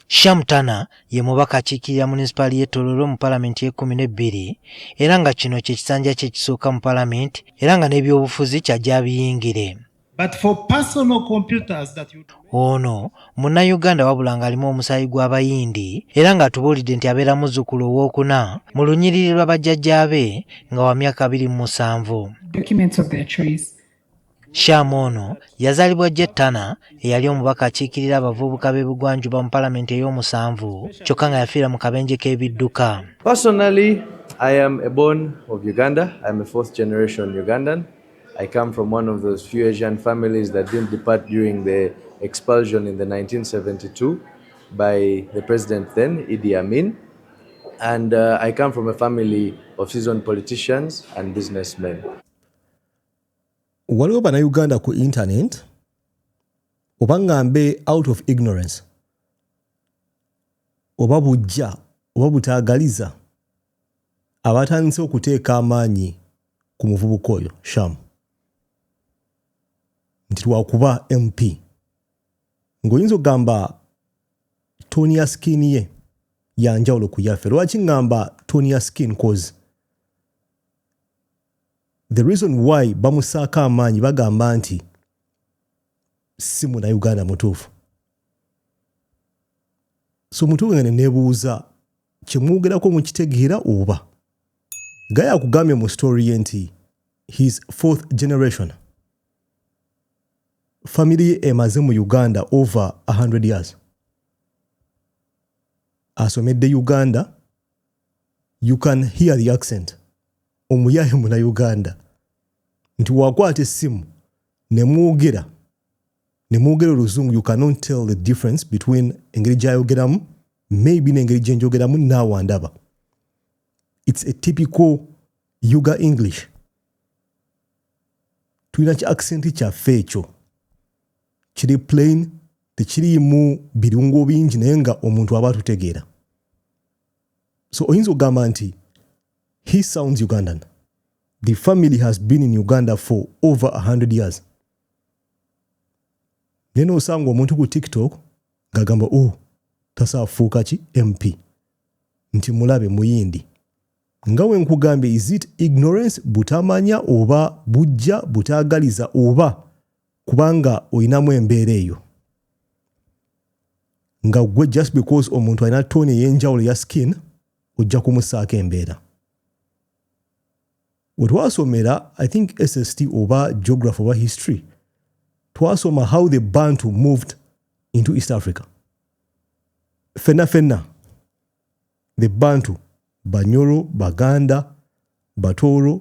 Sham Tana ye mubaka akiikirira munisipaali y'e Tororo mu palamenti y'ekkumi n'ebbiri era nga kino kye kisanja kye ekisooka mu palamenti era nga n'ebyobufuzi ky'ajja abiyingire. Ono munnayuganda wabula ng'alimu omusaayi gw'Abayindi era ng'atubuulidde nti abeera muzzukulu owookuna mu lunyiriri lwa bajjajjaabe nga wa myaka abiri mu musanvu. Sham ono yazaalibwa Jet Turner eyali omubaka akiikirira abavubuka b'ebugwanjuba mu palamenti ey'omusanvu kyokka nga yafiira mu kabenje k'ebidduka. Personally, I am a born of Uganda. I am a fourth generation Ugandan. I come from one of those few Asian families that didn't depart during the expulsion in the 1972 by the president then, Idi Amin. And uh, I come from a family of seasoned politicians and businessmen. waliwo banauganda ku internet oba ngambe out of ignorance oba bujja oba butagaliza abatandise okuteeka amaanyi ku muvubuka oyo shamu nti lwakuba mp ngaoyinza okugamba toni ya skin ye yanjawulo ku yaffe lwaki ngamba toni ya skin cause The reason why bamusaako amaanyi bagamba nti si munauganda mutuufu so mutuufu nga nenebuuza kyemwogerako mukitegeera oba gaya akugambye mu story ye nti his fourth generation family ye emaze mu uganda over 100 years asomedde uganda you can hear the accent omuyaye muna uganda nti wakwata essimu nemwogera nemwogera oluzungu you cannot tell the difference between engeri gyayogeramu maybe nengeri gyenjogeramu naawa ndaba its a typical uga english tulina ki accent kyaffe ekyo kiri plain tekiriimu birungo bingi naye nga omuntu aba atutegeera so oyinza okugamba nti he sounds ugandan the family has been in uganda for over 100 years naye nosanga omuntu ku tiktok ngagamba o oh, tasaafuuka ki mp nti mulabe muyindi nga we nkugambye is it ignorance butamanya oba bujja butagaliza oba kubanga olinamu embeera eyo nga gwe just because omuntu alina toni eyenjawulo ya skin ojja kumusaako embeera wetwasomera i think sst oba geography oba history twasoma how the bantu moved into east africa fenna fenna the bantu banyoro baganda batooro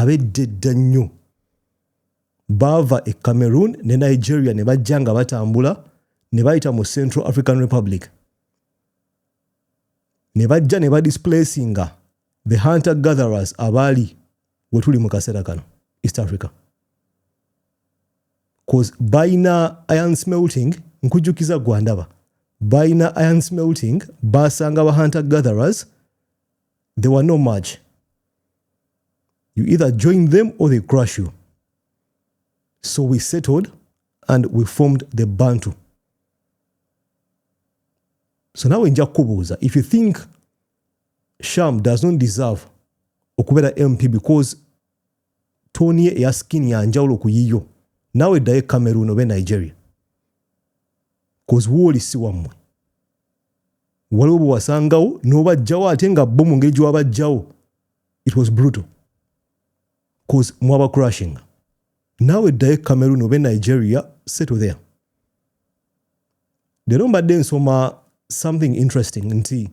Ab'edda edda ennyo baava e Cameroon ne Nigeria ne bajja nga batambula ne bayita mu Central African Republic ne bajja ne badisplacinga the hunter gatherers abaali we tuli mu kaseera kano East Africa cause balina iron smelting nkujjukiza gwandaba balina iron smelting baasanga ba hunter gatherers they were no much You either join them or they crush you. So we settled and we formed the Bantu. So now in Jakubuza, if you think Sham does not deserve okubera MP because Tony ya skin ya njawulo ku yiyo, nawe daye Cameroon obe Nigeria. Cause woli si wamwe. waliwo bwewasangawo nobajjawo ate nga bo mu ngeri gyewabajjawo it was brutal bcause mwaba crushing naawe ddayo e cameroon oba e nigeria settle there leero mbadde nsoma something interesting nti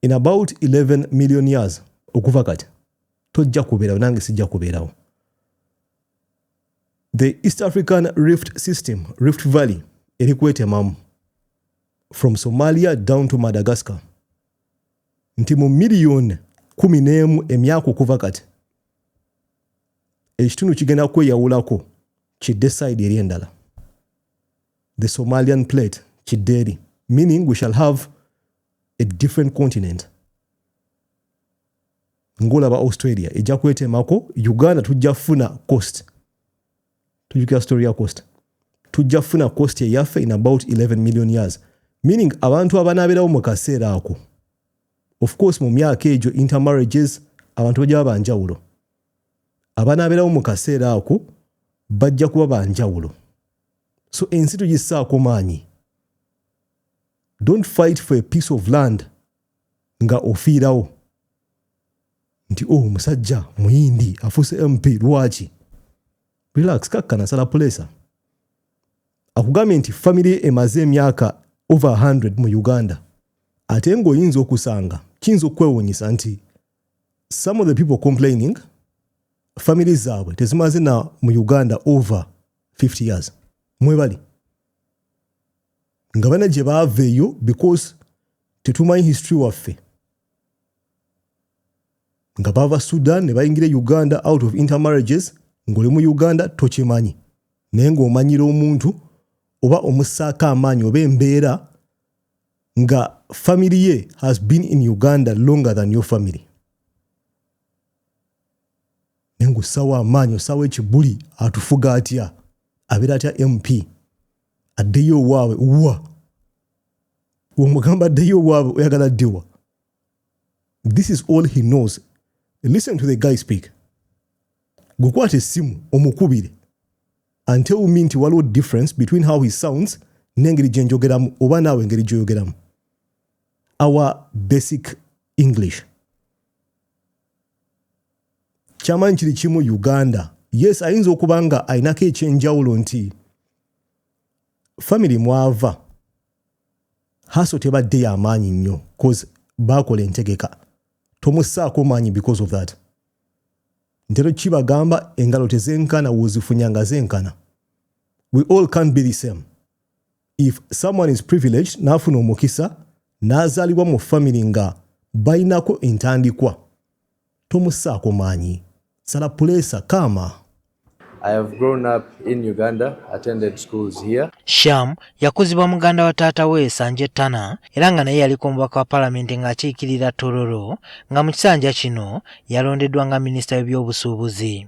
in about 11 million years okuva kati tojja kubeerawo nange sijja kubeerawo the east african rift system rift valley eri kwetemamu from somalia down to madagascar nti mu miliyoni kumi n'emu emyaka okuva kati ekitundu kigenda kweyawulako kidde side eri endala the somalian plate kidde eri meaning we shall have a different continent ngolaba australia ejja kwetemako uganda tujja funa cost tujukira story ya cost tujja funa cost eyaffe in about 11 million years meaning abantu abanaaberawo mu kaseera ako of course mu myaka egyo intermarriages abantu bajja baba njawulo abanaaberawo mu kaseera ako bajja kuba ba njawulo so ensi tugissaako maanyi don't fight for a piece of land nga ofiirawo nti o oh, musajja muyindi afuuse mp lwaki relax kakka nasala pulesa akugambye nti famiry emaze emyaka over 100 mu uganda ate ngaoyinza okusanga kiyinza okukwewunyisa nti some of the people complaining famiry zaabwe tezimaze na mu uganda over 50 years mwebali nga bana gye baava eyo because tetumanyi history waffe nga bava sudan ne bayingira e uganda out of intermarriages ng'oli mu uganda tokimanyi naye ng'omanyira omuntu oba omussaako amaanyi oba embeera nga family ye has been in uganda longer than your family naye ng'ossaawo amaanyi ossaawo ekibuli atufuga atya abeera atya mp addeyo owaabwe wa omugamba addeyo owaabwe oyagala addewa this is all he knows listen to the guy speak gwekwata essimu omukubire and tell me nti waliwo difference between how he sounds n'engeri gye njogeramu oba naawe engeri gyoyogeramu our basic english kyamanyi kiri kimu uganda yes ayinza okuba nga alinako ekyenjawulo nti famiry mwava haso tebaddeyo amaanyi nnyo bcause baakola entegeka tomusaako maanyi because of that ntero kibagamba engalo tezenkana wozifunya nga zenkana we all can't be the same if someone is privileged n'afuna omukisa n'azaalibwa mu family nga balinako entandikwa tomusaako maanyi sala puleesa kaama I have grown up in Uganda, attended schools here. Sham yakuzibwa muganda wa taata we Sanje Tana era nga naye yaliko omubaka wa palamenti ng'akiikirira Tororo nga mu kisanja kino yalondeddwa nga minisita w'ebyobusuubuzi.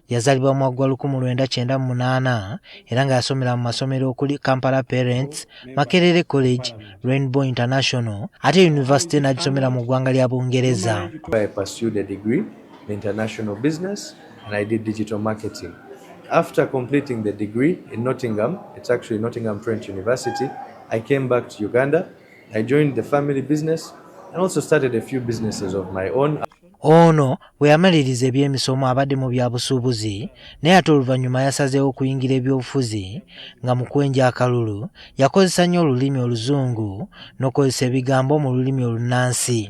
Yazalibwa mu gwa lukumi lwenda kyenda mu munaana era nga yasomera mu masomero okuli Kampala Parents, Makerere College, Rainbow International ate yunivasite n'agisomera mu ggwanga lya Bungereza. After completing the degree in Nottingham, it's actually Nottingham Trent University, I came back to Uganda. I joined the family business and also started a few businesses of my own. Ono bwe yamaliriza eby'emisomo abadde mu bya busuubuzi naye ate oluvannyuma yasazeewo okuyingira ebyobufuzi nga mu kwenja akalulu yakozesa nnyo olulimi oluzungu n'okukozesa ebigambo mu lulimi olunnansi.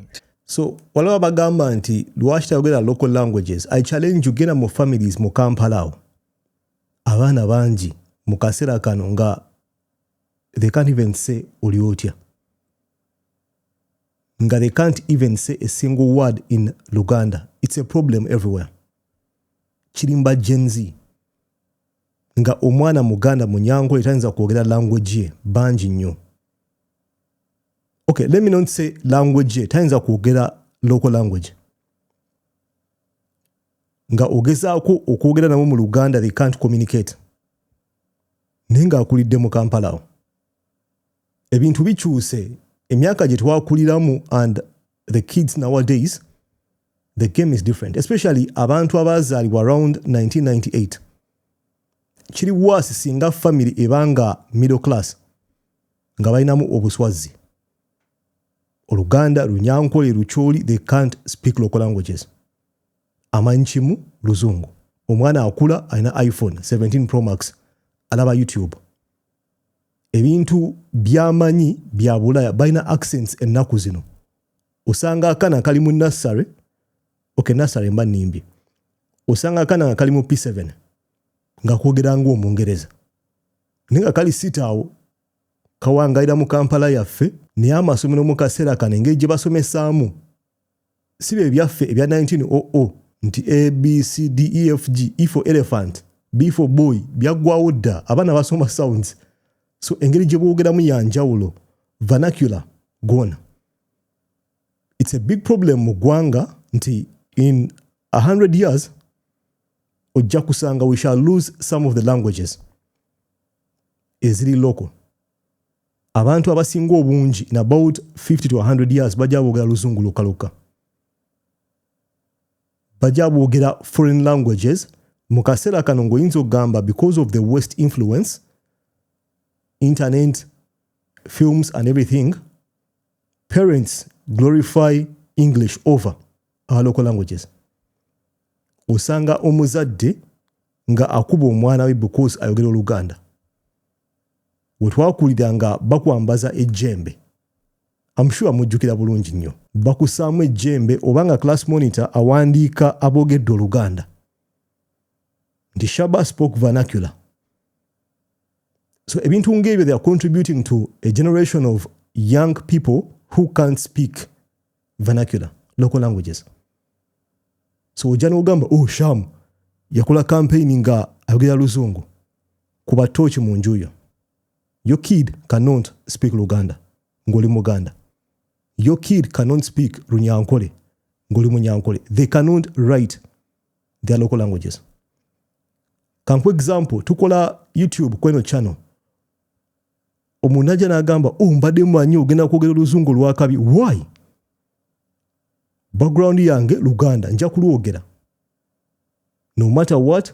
So waliwo abagamba nti lwaki tayogera local languages i challenge you genda mu families mu kampala awo abaana bangi mu kaseera kano nga they can't even say oli otya nga they can't even say a single word in luganda it's a problem everywhere kirimba gen z nga omwana muganda munyango etayinza kwogera language ye bangi nnyo okay let me not say language ye tayinza kwogera local language nga ogezaako okwogera nabo mu luganda they can't communicate naye ng'akulidde mu kampala awo ebintu bikyuse emyaka gye twakuliramu and the kids nowadays the game is different especially abantu abaazaalibwa around 1998 kiri waasi singa famiry eba nga middle class nga balinamu obuswazi oluganda lunyankole lukyoli they can't speak local languages amanyi kimu luzungu omwana akula alina iphone 17 promax alaba youtube ebintu byamanyi bya bulaya balina accents ennaku zino osanga akana akali mu nassary okay nassary mba nimbye osanga akana nga kali mu p7 nga kwogera nga omungereza naye nga kali sita awo kawangalira mu kampala yaffe naye amasomero mu kaseera kano engeri gye basomesaamu si bye byaffe ebya 1900 nti abcdefg e for elephant b for boy byaggwawo dda abaana basoma sounds so engeri gye boogeramu ya njawulo vernacular gwona it's a big problem mu ggwanga nti in 100 years ojja kusanga we shall lose some of the languages eziri local abantu abasinga obungi in about 50 to 100 years bajja boogera luzungu lokalokka bajja boogera foreign languages mu kaseera kano ng'oyinza okugamba because of the west influence internet films and everything parents glorify english over our local languages osanga omuzadde nga akuba omwana we because ayogera oluganda we twakulira nga bakwambaza ejjembe am sure mujjukira bulungi nnyo bakusaamu ejjembe oba nga class monitor awandiika aboogedde oluganda nti shaba spoke vernacular so ebintu ngaebyo they are contributing to a generation of young people who can't speak vernacular local languages so ojja n'ogamba oh sham yakola kampeyini nga ayogera luzungu kuba tooki mu nju yo yo kid canont speak luganda ng'oli muganda yo kid canont speak runyankole ng'oli munyankole they canont write their local languages kanku example tukola youtube kweno channel omuntu ajja n'agamba o oh, mbadde manyi ogenda kwogera oluzungu lwakabi why background yange luganda nja kulwogera no matter what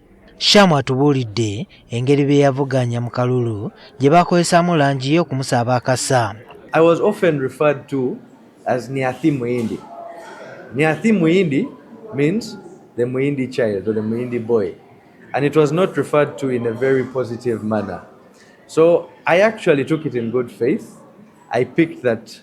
Sham atubuulidde engeri bye yavuganya mu kalulu gye baakozesaamu langi ye okumusaba akasa. I was often referred to as Niathi Muindi. Niathi Muindi means the Muindi child or the Muindi boy. And it was not referred to in a very positive manner. So I actually took it in good faith. I picked that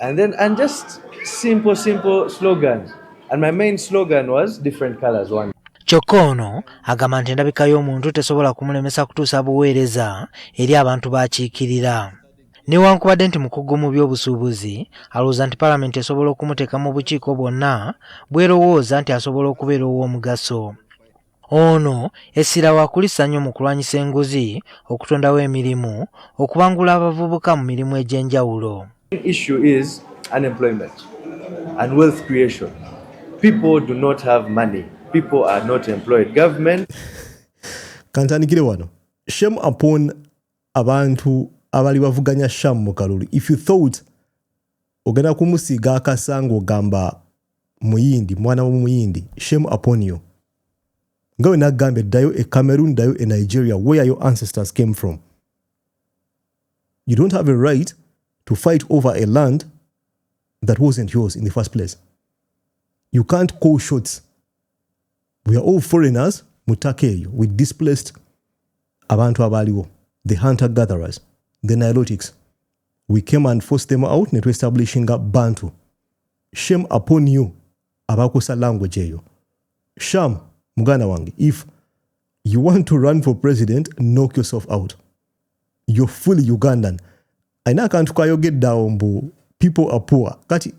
And then, and just simple, simple slogans. And my main slogan was different colors, one. kyokka ono agamba nti endabika y'omuntu tesobola kumulemesa kutuusa buweereza eri abantu baakiikirira newankubadde nti mukugu mu by'obusuubuzi alowooza nti palamenti esobola okumuteeka mu bukiiko bwonna bwerowooza nti asobola okubeera ow'omugaso Ono essira waakulissa nnyo mu kulwanyisa enguzi, okutondawo emirimu, okubangula abavubuka mu mirimu egy'enjawulo. issue is unemployment and wealth creation. People do not have money. People are not employed. Government. Kantandikire wano. Shame upon abantu abali bavuganya Sham mu kalulu. If you thought Ogenda kumusiiga akasa ng'ogamba muyindi mwana w'omuyindi shame upon you nga we nagambye ddayo e cameroon ddayo e nigeria where your ancestors came from you don't have a right to fight over a land that wasn't yours in the first place you can't call shots we are all foreigners mu ttaka eyo we displaced abantu abaaliwo the hunter gatherers the nilotics we came and force them out ne tuestablishinga bantu shame upon you abakosa language eyo sham muganda wange if you want to run for president knock yourself out you're fully ugandan alina akantu kayogedde awo mbu people are poor kati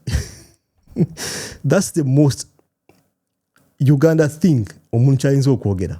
that's the most uganda thing omuntu kyayinza okwogera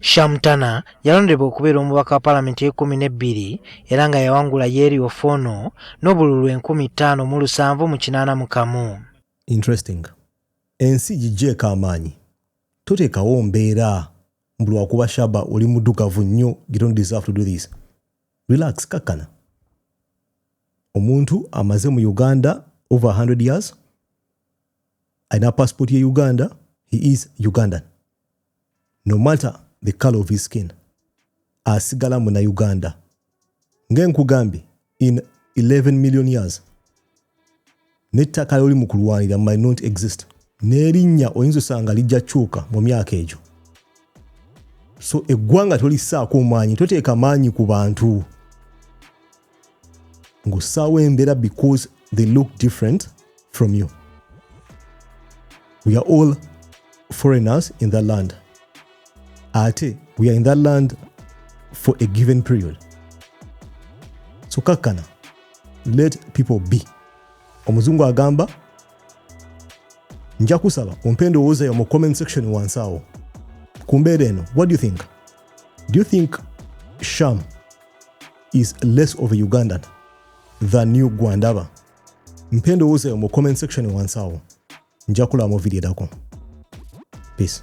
Shamtana yalondebwa okubeera omubaka wa palamenti ekumi n'ebbiri era nga yawangula Yeri Ofono n'obululu enkumi ttaano mu lusanvu mu kinaana mu kamu. Interesting. Ensi gigyeeko amaanyi. Toteekawo mbeera mbu lwakuba Shaba oli mudugavu nnyo you don't deserve to do this. Relax kakkana. Omuntu amaze mu Uganda over 100 years alina passport ye Uganda he is Ugandan. no matter the color of his skin asigala muna uganda ngenkugambye in 11 million years nettaka lyoli mu kulwanira might not exist n'erinnya oyinza osanga lijja kyuka mu myaka egyo so eggwanga tolisaako maanyi toteeka maanyi ku bantu ng'ossaawo embeera because they look different from you we are all foreigners in that land ate we are in that land for a given period so kakkana let people be omuzungu agamba nja kusaba ompa endowooza yo mu comment section wansi awo ku mbeera eno what do you think do you think sham is less of a Ugandan than new Gwandaba. Mpendo uze mu comment section wansawo. Njakula mo video dako. Peace.